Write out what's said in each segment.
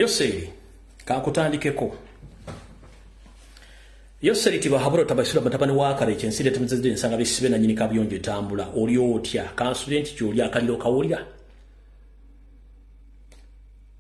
Yoseri kakutandikeko Yoseri tibahabura tabashira batabani wa kare kyensire tumizide nsanga bisibe na nyini kabiyonje tambula oli otya kansuye nti kyoli akaliro kawulira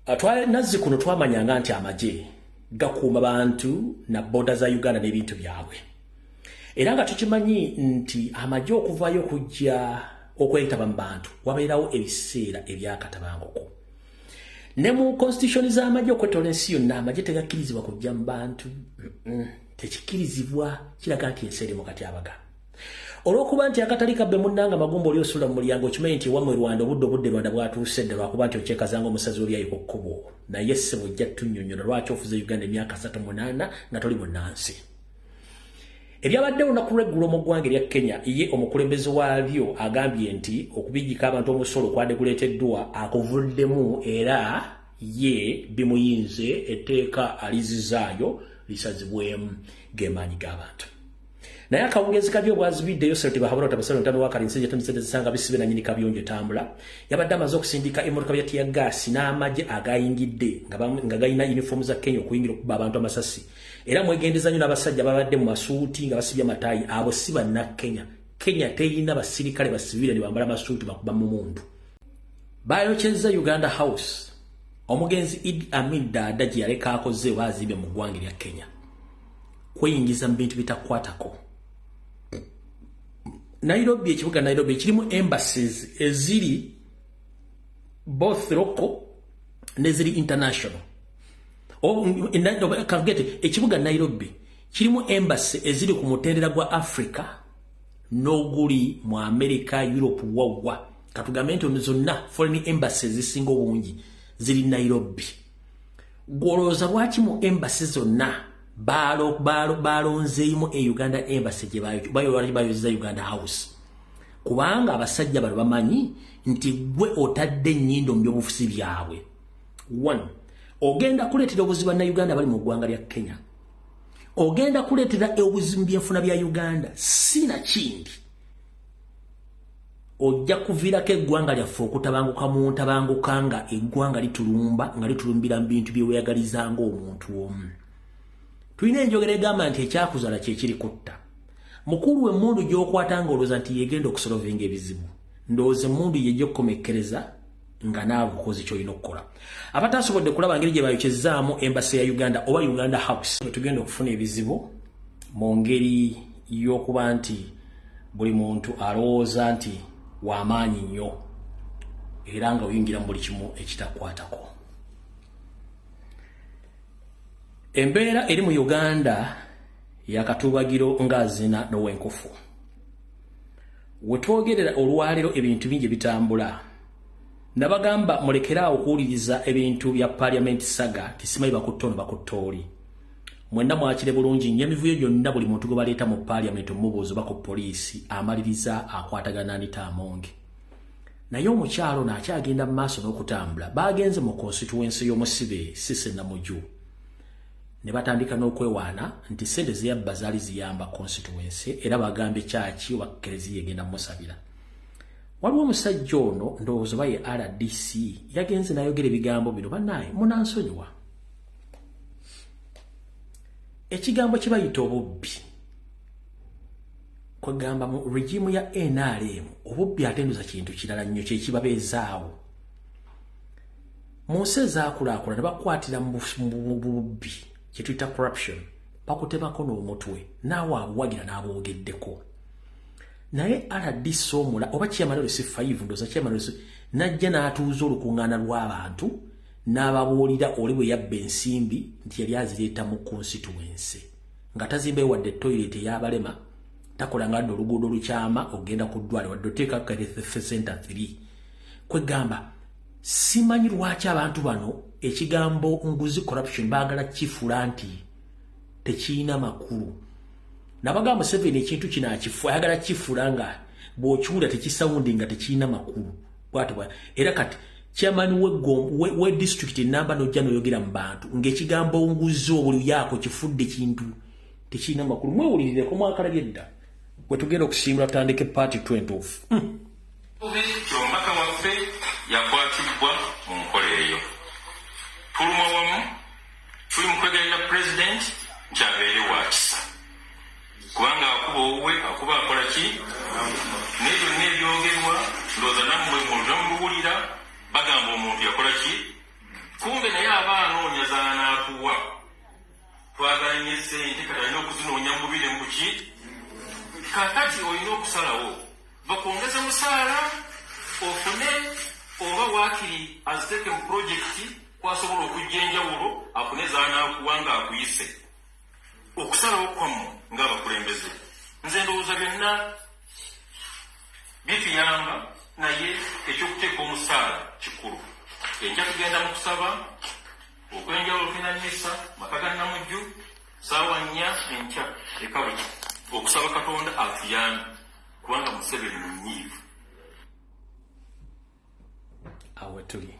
atwale nazzi kuno twamanya nga nti amaje gakuuma bantu na boda za Uganda n'ebintu byabwe era nga tukimanyi nti amaje okuvayo kujja okwetaba mu bantu wabeerawo ebiseera ebyakatabanguko ne mu constitution z'amagye okwetola ensi yonna amagye tegakkirizibwa kujja mu bantu tekikkirizibwa kiraga nti ensi eri mu katyabaga olw'okuba nti akatali kabbe munnanga magumba oli osula mu mulyango okimanyi nti wamwe rwanda obudde obudde rwanda bwatuuse dde lwakuba nti okyekazanga omusazi olyayi ku kkubo naye ssebo ojja tunnyonnyola lwaki ofuze uganda emyaka satu munaana nga toli munnansi ebyabadde olunaku lweggulo mu ggwanga erya kenya ye omukulembeze waabyo agambye nti okubijjika abantu omusolo kwade kuleeteddwa akuvuddemu era ye bimuyinze etteeka alizizaayo lisazibwemu gemaanyi g'abantu naye akawungeezi kabyo obwazibiddeyo sente bahabula otabasalo ntano wakali nsenje tamisente zisanga bisibe na nyini kabiyonjo tambula yabadde amaze okusindika emotoka bya tiya gaasi n'amagye agayingidde nga gayina uniform za kenya okuyingira okuba abantu amasasi era mwegendeza nyo nabasajja babadde mu masuuti nga basibye matayi abo si banna kenya kenya teyina basirikale basivile nibambala masuuti bakuba mu muntu bayokyezza uganda house omugenzi id amin daada gye yaleka akoze bazibe mu ggwanga erya kenya kweyingiza mu bintu bitakwatako nairobi ekibuga nairobi ekirimu embassies eziri both local neziri international kagete ekibuga nairobi kirimu embassy eziri ku mutendera gwa africa n'oguli mu america europe wawwa katugambe nti ono zonna foreign embassy ezisinga obungi ziri nairobi gwolowooza lwaki mu embassy zonna balonzeemu e uganda embassy gyebayoyozeza uganda house kubanga abasajja bano bamanyi nti gwe otadde ennyindo mu byobufuzi byabwe one ogenda kuleetera obuzibu bannayuganda bali mu ggwanga lya kenya ogenda kuleetera obuzibu byenfuna bya uganda si nakindi ojja kuviirako eggwanga lyaffe okutabanguka mu ntabanguka nga eggwanga litulumba nga litulumbira mu bintu byeweyagaliza ngaomuntu omu tulina enjogera egamba nti ekyakuzala kyekiri kutta mukulu emundu gyokwata nga olowooza nti yegenda okusolovinga ebizibu ndowooza emundu yejja okukomekkereza nga naawe okoze kyolina okukola abataasobodde kulaba ngeri gye bayokyezaamu embasi ya uganda oba uganda house wetugenda okufuna ebizibu mu ngeri y'okuba nti buli muntu alowooza nti wamaanyi nnyo era nga oyingira mu buli kimu ekitakwatako embeera eri mu uganda yakatuubagiro ng'azina nowenkufu wetwogerera olwaleero ebintu bingi bitambula nabagamba mulekere awo okuwuliriza ebintu bya paliamenti saga tisimayi bakutta ono bakutta oli mwenna mwakire bulungi nyo emivuyo gyonna buli muntu gwe baleeta mu paliamenti omubuuzi oba ku poliisi amaliriza akwatagana anita amonge naye omukyalo ono akyagenda mu maaso n'okutambula baagenze mu konsituwensi y'omusibe sisenamuju ne batandika n'okwewaana nti ssente zeyabba zaali ziyamba konsituwense era bagambye kyaki oba kereziya egenda musabira waliwo omusajja ono ndowooza oba ye rdc yagenze n'ayogera ebigambo bino banaye munansonyiwa ekigambo kye bayita obubbi kwegamba mu regimu ya nrm obubbi atenduza kintu kirala nnyo kyekibabeezaawo mu nsi ezaakulaakulana bakwatira mu bubbi kye tuyita corruption bakutemako n'omutwe naawe abuwagira n'aboogeddeko naye rdc omula oba kyemanero si fayivu ndoza kyemanero si najja n'atuuza olukuŋŋaana lw'abantu n'ababuulira oli bwe yabba ensimbi nti yali azireeta mu konsituwense nga tazimbayo wadde toyireti eyabalema takola nga dda oluguudo olukyama okugenda ku ddwale wadde oteekakafesenta 3 kwegamba simanyi lwaki abantu bano ekigambo nguzi corruption baagala kifula nti tekiyina makulu nabaga museveni ekintu kino akifu ayagala kifula nga bwokiwulira tekisawundi nga tekiyina makulu bwatobwa era kati chairman we gom we, we district namba no jano yogera mbantu ngekigambo nguzo buli yako kifudde kintu tekina makulu mwe ulirire ko mwakala byedda wetugero kusimula tandike party 20 mm. Ekikubiri nti omubaka waffe yakwatibbwa mu nkola eyo. Tulumwa wamu, tuli mu kwegayirira Pulezidenti nti abeere wa kisa kubanga akuba owuwe akuba akola ki? Naye byonna ebyogerwa ndowooza nammwe mulina muluwulira bagamba omuntu yakola ki? Kumbe naye aba anoonya z'anaakuwa. Twagala nnyo essente kati alina okuzinoonya mu bubi ne mu ki? Kaakati olina okusalawo. bakwongeze musaala ofune oba waakiri aziteeke mu pulojekiti kwasobola okujja enjawulo afune zanaakuwa nga akuyise okusalawo kwammu ng'abakulembeze nze ndowooza byonna bituyamba naye ekyokuteeka omusaala kikulu enja tugenda mu kusaba okwenjawulo tulina misa maka ga namujju saawa nnya enkya ekabuli okusaba katonda atuyambe kubanga museveni munyiivu awo tuli